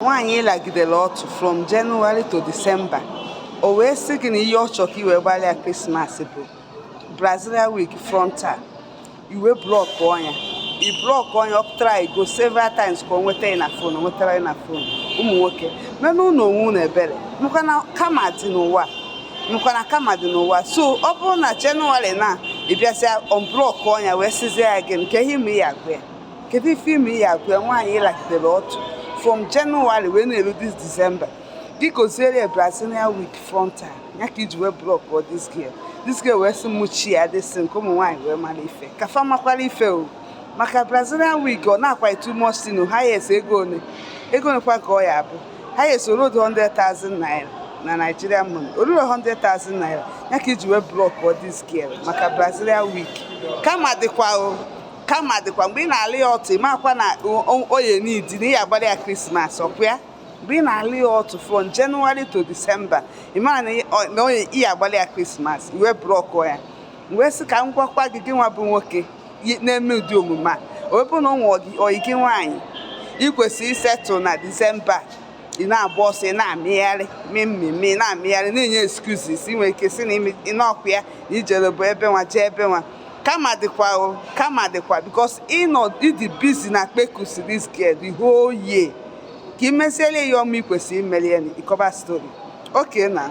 nwaanyị ị lagidere ọtụ from January to December o wee sị gị na ihe ọ chọrọ ka i wee gbalị ya krismas bụ Brazilian wig frontal i wee blọkọ nya i blọkọ nya ọ try go several times ka o nweta gị na fon nwetarọ gị na fon ụmụ nwoke meelụnụ onwe unu ebere makwa na karma dị n'ụwa so ọ bụrụ na January na ị bịazịa ọnblọkọ nya wee sizie ya gịnị kee ihe ime ya agwa ya kedu ife ime ya agwa nwaanyị ị lagidere ọtụ from January wee na-eru this December gị goziere ya Brazilian wig frontal ya ka i ji wee blọkọ this girl this girl wee sị mụchi ya dịsị nke ụmụ nwaanyị wee mara ife ka fa makwara ife o maka Brazilian wig ọ na-akwa too much thing o highest ego one ego onekwa ka ọ ya-abụ highest o ru 100,000 naira na Nigerian money o ruru 100,000 naira ya ka i ji wee blọkọ this girl maka Brazilian wig karma dịkwa o karma dịkwa mgbe ị na-ala ya ọtụ ị makwa na ọ ya-need na ị ya-agbalị ya krismas ọkwa ya mgbe ị na-ala ya ọtụ from January to December ị mara na ị ya-agbalị ya krismas i wee blọkọ ya m wee sị ka m gwakwa gị gị nwa bụ nwoke na-eme ụdị omume a ọ bụrụ na i nwe ọyị gị nwaanyị ị kwesịrị isettle na December ị na-agba ọsọ ị na-amịgharị mee mmemme ị na-amịgharị na-enye excuses ị nwere ike si na ị nọkwa ya na i jere bụ ebe nwa jee ebe nwa karma dịkwa o karma dịkwa because ị nọ ị dị busy na kpekusi this girl the whole year ka ị meziele ya ọma ị kwesịrị imeli ya ị kọba story okay na